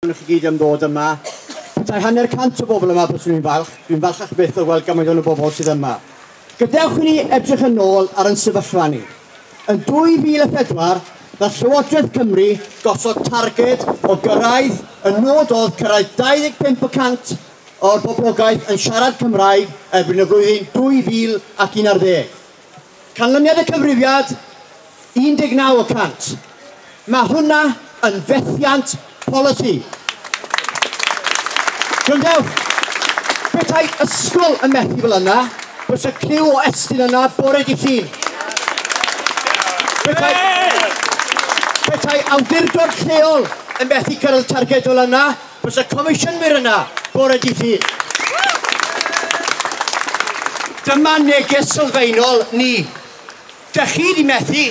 Diolch i chi gyd am ddod yma. Petai hanner cant o bobl yma, byswn i'n falch. Dwi'n falchach byth o weld gymaint o'n y bobl sydd yma. Gadewch i ni edrych yn ôl ar yn sefyllfa ni. Yn 2004, nath Llywodraeth Cymru gosod targed o gyrraedd, y nod oedd cyrraedd 25 y cant o'r boblogaeth yn siarad Cymraeg erbyn y flwyddyn 2011. Canlyniad y cyfrifiad, 19 y cant. Mae hwnna yn fethiant polisi. Gwrandewch, petai ysgol yn methu fel yna, bysa criw o Estyn yna bore di Llun. Petai, petai awdurdod lleol yn methu cyrraedd targed fel yna, Bws y comisiynwyr yna bore dydd Llun. Dyma neges sylfaenol ni. Dych chi wedi methu?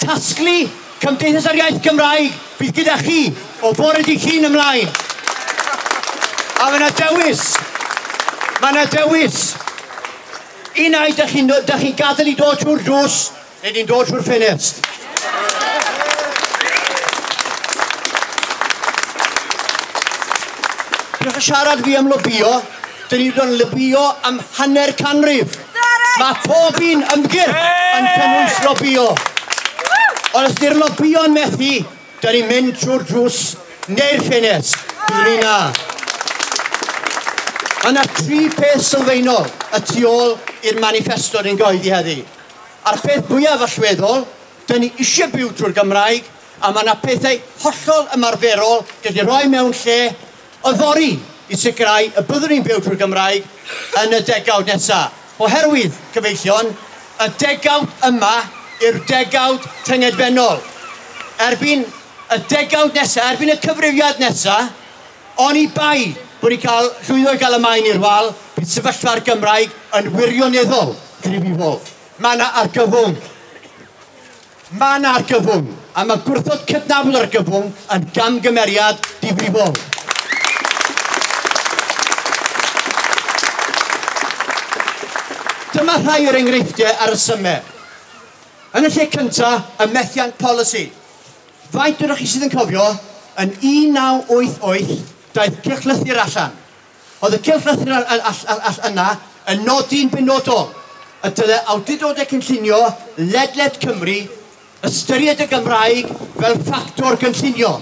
Tasglu Cymdeithas yr Iaith Gymraeg fydd gyda chi o fore dydd Llun ymlaen. A mae yna dewis. Mae yna dewis. Un ai dych chi'n chi gadael i dod trwy'r drws Rydyn ni'n dod trwy'r ffenest. Diolch yn siarad fi am lobio, dyn ni wedi lobio am hanner canrif. Mae pob un ymgyrch yn cynnwys lobio. Ond os di'r lobio'n methu, dyn ni'n mynd trwy'r drws neu'r ffenest. Dyn ni na. Mae yna tri peth sylfaenol y tu ôl i'r manifesto ni'n goeddi heddi. A'r peth fwyaf allweddol, dyn ni eisiau byw drwy'r Gymraeg, a mae yna pethau hollol ymarferol dyn ni'n rhoi mewn lle yfory i sicrhau y byddwn ni'n byw drwy'r Gymraeg yn y degawd nesaf. Oherwydd, cyfeillion, y degawd yma yw'r degawd tyngedfennol. Erbyn y degawd nesaf, erbyn y cyfrifiad nesaf, Oni bai bod ni'n cael llwyddo i gael y Maen i'r wal, bydd sefyllfa'r Gymraeg yn wirioneddol gryf i Wolves. Mae yna argyfwng. Mae yna argyfwng, a mae gwrthod cydnabod argyfwng yn gamgymeriad difrifol. Dyma rhai o'r enghreifftiau a resymau. Yn y lle cyntaf, y methiant polisi. Faint onoch chi sydd yn cofio, yn 1988, daeth cylchlythyr allan. Oedd y cylchlythyr yna yn nodi'n benodol y dylai awdurdodau cynllunio ledled Cymru ystyried y Gymraeg fel ffactor gynllunio.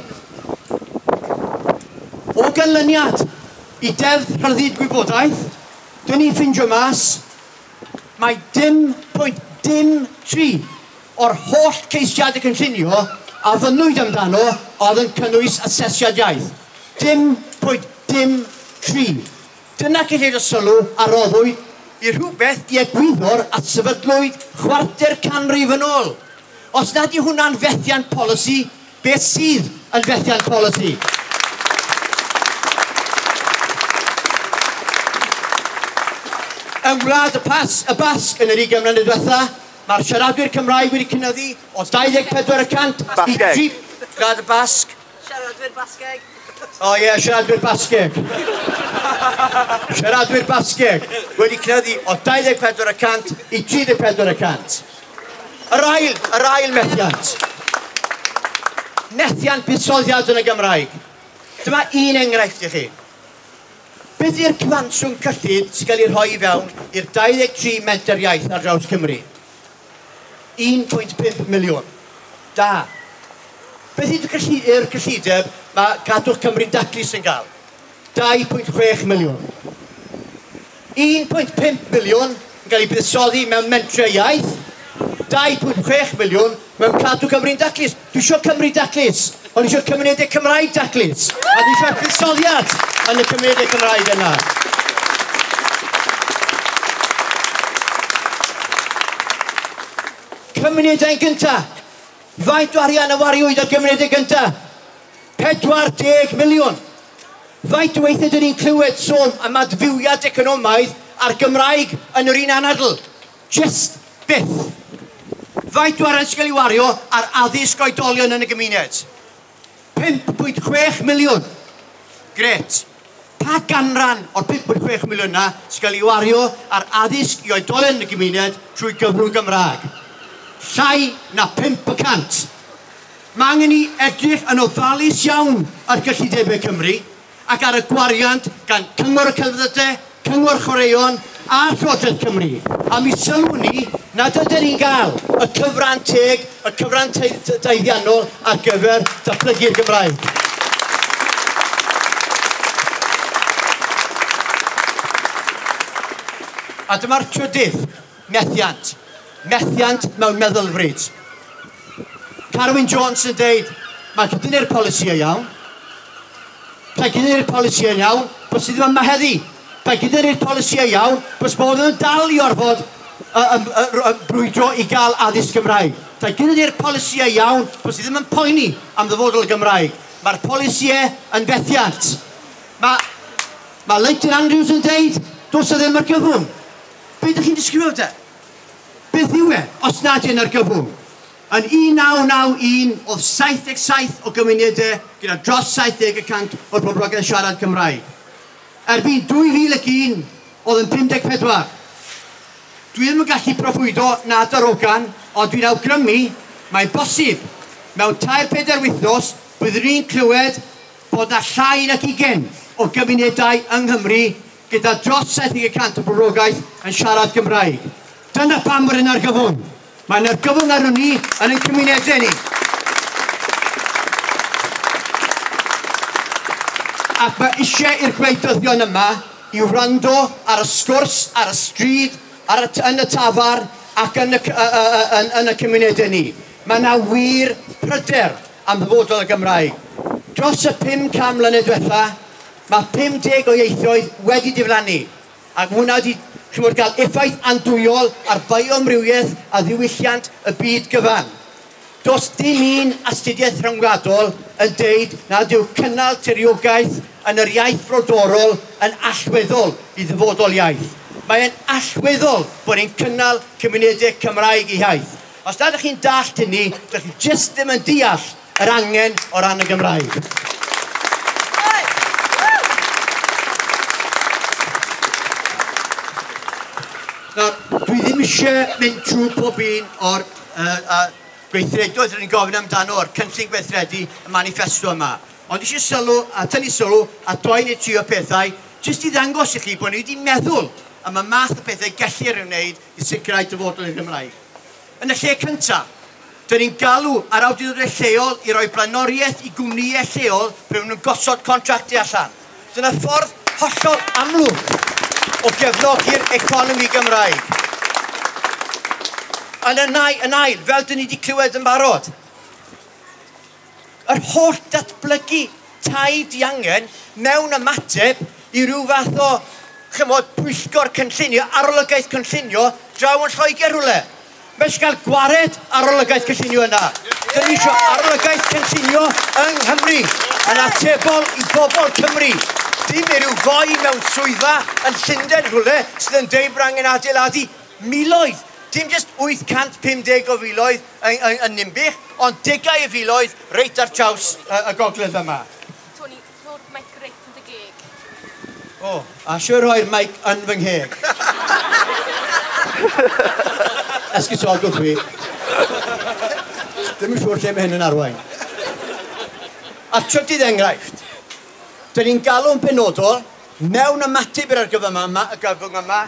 O ganlyniad i Deddf Rhyddid Gwybodaeth, dyn ni'n ffindio mas mai dim pwynt dim tri o'r holl geisiadau cynllunio a fynnwyd amdano oedd yn cynnwys asesiad iaith. Dim bwyd, dim tri. Dyna cyllid y sylw a roddwyd i rhywbeth i egwyddor a sefydlwyd chwarter canrif yn ôl. Os nad yw hwnna'n fethiant polisi, beth sydd yn fethiant polisi? Yng Ngwlad y Pas, y Basg yn yr ugain mlynedd diwetha, Mae'r siaradwyr Cymraeg wedi cynyddu o 24 y cant i... Basgeg. Siarad y Basg. Siaradwyr Basgeg. O oh, ie, yeah, siaradwyr Basgeg. siaradwyr Basgeg wedi cynyddu o 24 y cant i 34 y cant. Yr ail, yr ail methiant. Methiant buddsoddiad yn y Gymraeg. Dyma un enghraifft i chi. Beth yw'r cyfanswm cyllid sy'n cael ei rhoi i fewn i'r 23 menter iaith ar draws Cymru? 1.5 miliwn. Da. Beth yw'r gylli, gyllideb mae Cadwch Cymru'n Daclus yn cael? 2.6 miliwn. 1.5 miliwn yn cael ei buddsoddi mewn mentrau iaith, 2.6 miliwn Mewn Cadw Cymru'n Daclus, dwi isio Cymru daclus, ond isio cymunedau Cymraeg daclus, a dwi eisiau buddsoddiad yn y cymunedau Cymraeg yna. Cymunedau yn gynta. Faint o arian y wariwyd ar gymunedau gynta? 40 miliwn. Faint o weithiau dyn ni'n clywed sôn am adfywiad economaidd a'r Gymraeg yn yr un anadl? Jyst byth! Faint o arian sy'n cael ei wario ar addysg oedolion yn y gymuned? 5.6 miliwn! Grêt! Pa ganran o'r 5.6 miliwn yna sy'n cael ei wario ar addysg i oedolion yn y gymuned trwy gyfrwng Gymraeg? Llai na phump y cant! Mae angen ni edrych yn ofalus iawn ar gyllidebau Cymru. ac ar y gwariant gan Cyngor y Celfyddydau, Cyngor Chwaraeon a Llywodraeth Cymru, a mi sylwn i nad ydyn ni'n cael y cyfran teg, y cyfran daeddiannol ar gyfer datblygu'r Gymraeg. A dyma'r trydydd, Methiant. Methiant mewn meddylfryd. Carwyn Jones yn deud, mae cydynnu'r polisïau iawn. Mae cydynnu'r polisïau iawn, bys i ddim yma heddi. Mae cydynnu'r polisïau iawn, bys modd yn dal i orfod uh, um, uh, brwydro i gael addysg Gymraeg. Mae cydynnu'r polisïau iawn, bys i ddim yn poeni am ddyfodol y Gymraeg. Mae'r polisïau yn fethiant. Mae, mae Leighton Andrews yn deud, dos o ddim ar gyfwng. Be ydych chi'n disgrifio de? Beth yw e, os nad yn argyfwng? Yn 1991, oedd 77 o gymunedau gyda dros 70 y cant o'r boblogaeth siarad Cymraeg. Erbyn 2001, oedd yn 54. Dwi ddim yn gallu proffwydo na darogan, ond dwi'n awgrymu, mae'n bosib, mewn tair pedair wythnos, byddwn ni'n clywed bod 'na llai nag ugain o gymunedau yng Nghymru gyda dros 70 y cant y boblogaeth yn siarad Cymraeg. Dyna pam bod yn argyfwng. Mae'n argyfwng arno ni yn ein cymunedau ni. Ac mae eisiau i'r gwleidyddion yma i wrando ar y sgwrs ar y stryd, ar y, yn y tafar ac yn y, uh, uh, uh, yn, yn y cymunedau ni. Mae yna wir pryder am ddyfodol y Gymraeg. Dros y 500 mlynedd diwetha, Mae 50 o ieithoedd wedi diflannu, ac mae hwnna wedi chimod, cael effaith andwyol ar fioamrywiaeth a ddiwylliant y byd gyfan. Does dim un astudiaeth rhyngwladol yn deud nad yw cynnal tiriogaeth yn yr iaith frodorol yn allweddol i ddyfodol iaith. Mae e'n allweddol bod ni'n cynnal cymunedau Cymraeg eu hiaith. Os nad ydych chi'n dallt hynny, dych chi jyst ddim yn deall yr angen o ran y Gymraeg. Nawr, dwi ddim eisiau mynd trwy pob un o'r uh, uh, gweithredoedd rydyn ni'n gofyn amdano o'r cynllun gweithredu y manifesto yma. Ond eisiau sylw a tynnu sylw a doi neu tri o pethau jyst i ddangos i chi bod ni wedi meddwl am y math o bethau gellir ei wneud i sicrhau dyfodol i'r Gymraeg. Yn y lle cyntaf, dŷn ni'n galw ar awdurdodau lleol i roi blaenoriaeth i gwmnïau lleol pan maen nhw'n gosod contractau allan. Dyna ffordd hollol amlwg o gefnogi'r economi Gymraeg. Yn y nai, yn ail, fel dŷn ni wedi clywed yn barod, yr holl datblygu tai diangen mewn ymateb i ryw fath o, chymod, pwyllgor cynllunio, arolygaeth cynllunio draw yn Lloegr rhywle. Mae eisiau cael gwared arolygaeth cynllunio yna. Dyn ni eisiau arolygaeth cynllunio yng Nghymru yn atebol i bobl Cymru. Dim i ryw foi mewn swyddfa yn Llundain rhywle sydd yn deud bod angen adeiladu miloedd, dim jyst 850 o filoedd, yn, yn, yn Ninbych, ond degau o filoedd reit ar draws y, y gogledd yma. Tony, rho'r mic reit yn dy geg. O, oh, a siwr rhoi'r mic yn fy ngheg. Esgusodwch fi. Ddim yn siŵr lle mae hyn yn arwain. A'r trydydd enghraifft, dyn ni'n galw'n benodol Mewn ymateb i'r argyfyng yma, y gyfyng yma,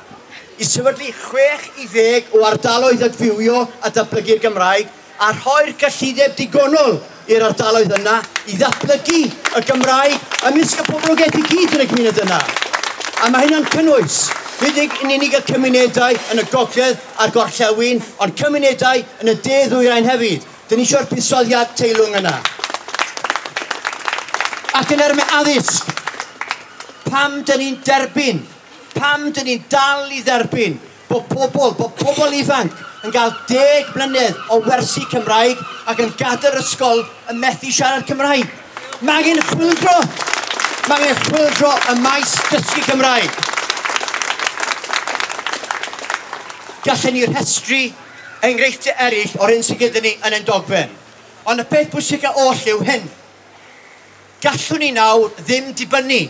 i sefydlu 60 o ardaloedd adfywio a datblygu'r Gymraeg, a rhoi'r cyllideb digonol i'r ardaloedd yna i ddatblygu y Gymraeg ymysg y poblogaeth i gyd yn y gymuned yna. A mae hynna'n cynnwys, nid yn unig y cymunedau yn y gogledd a'r gorllewin, ond cymunedau yn y de-ddwyrain hefyd. Dyn ni eisiau'r buddsoddiad teilwng yna. Ac yn erme addysg, pam dyn ni'n derbyn, pam dyn ni'n dal i dderbyn bod pobl, bod pobl ifanc yn cael deg mlynedd o wersi Cymraeg ac yn gadael yr ysgol yn methu siarad Cymraeg. Mae angen chwildro, mae angen chwildro y maes dysgu Cymraeg. Gallen ni rhestru enghreifftiau eraill o'r hyn sydd gyda ni yn ein dogfen. Ond y peth bwysicaf oll yw hyn. Gallwn ni nawr ddim dibynnu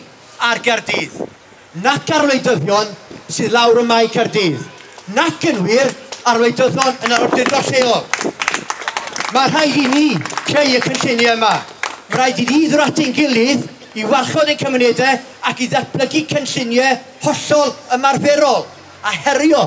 ar Gaerdydd, nac ar wleidyddion sydd lawr ym Mae Caerdydd, nac yn wir ar wleidyddion yn yr awdurdod lleol. Mae rhaid i ni creu y cynlluniau yma. Mae rhaid i ni ddod at ein gilydd i warchod ein cymunedau ac i ddatblygu cynlluniau hollol ymarferol a herio